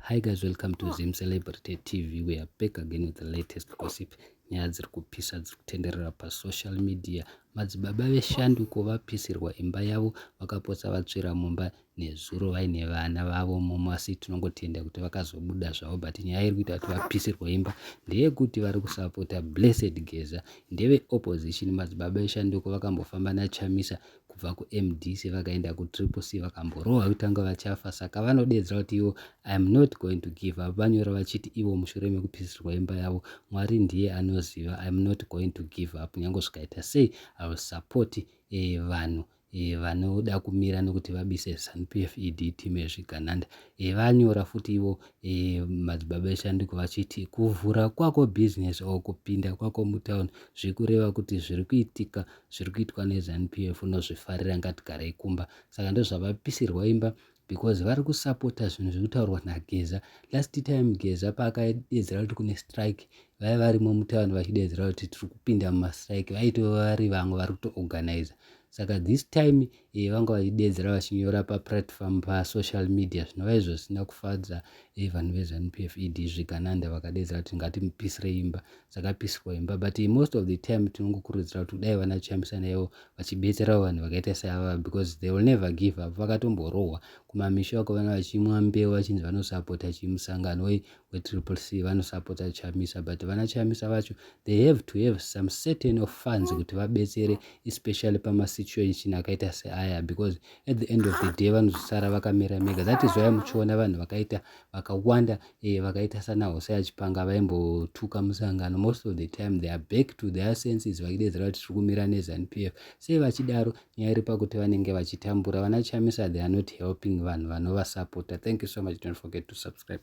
Hi guys, welcome to Zim Celebrity TV. We are back again with the latest gossip. Nyaya dziri kupisa dziri kutenderera pasocial media. Madzibaba veshanduko vapisirwa imba yavo vakapotsa vatsvira mumba nezuro vaine vana vavo momo asi tinongotenda kuti vakazobuda zvavo but nyaya iri kuita kuti vapisirwa imba ndeyekuti vari kusapota blessed geza ndeveopposition madzibaba eshanduko vakambofamba nachamisa kubva kumdc vakaenda kutriple c vakamborohwa kuti vanga vachafa saka vanodeedzera kuti ivo iam not going to give up vanyora vachiti ivo mushure mekupisirwa imba yavo mwari ndiye anoziva iam not going to give up nyange zvikaita sei iwill support eh, vanhu eh, vanoda kumira nokuti vabise zanupf ed team yezvigananda eh, vanyora futi ivo eh, madzibaba eshanduko vachiti kuvhura kwako business or kupinda kwako mutown zviri kureva kuti zviri kuitika zviri kuitwa neZanu PF unozvifarira ngatigarei kumba saka ndozvavapisirwa imba because vari kusapota zvinhu zviri kutaurwa nageza last time geza paakadedzera kuti kune strike vaiva varimo mutown vachidedzera kuti tiri kupinda mumastrike vaitova vari vamwe vari kutoorganiza saka this time e, vanga vachideedzera vachinyora paplatform pasocial media zvinova izvo zvisina kufadza e, vanhu vezanu p f ed zvigananda vakadeedzera kuti ngatimupisire imba dzakapisirwa imba but e, most of the time tinongokurudzira kuti kudai vana chamisana ivo vachibetserawo vanhu vakaita seava because they will never give up vakatomborohwa kumamisha uko vana vachimwa mbeu vachinzi vanosapota chimusangano e, wetriple c vanosapota chamisa but vana chamisa vacho they have to have some certain of funds mm. kuti vabetsere especially pamasituation akaita seaya because at the end of the day vanozosara vakamira mega that is why muchiona vanhu vakaita vakawanda eh, vakaita sana hose achipanga vaimbotuka musangano most of the time they are back to their senses vachidedzera kuti tiri kumira nezanp f sei vachidaro nyaya iri pakuti vanenge vachitambura vana chamisa they are not helping vanhu vanovasapota thank you so much don't forget to subscribe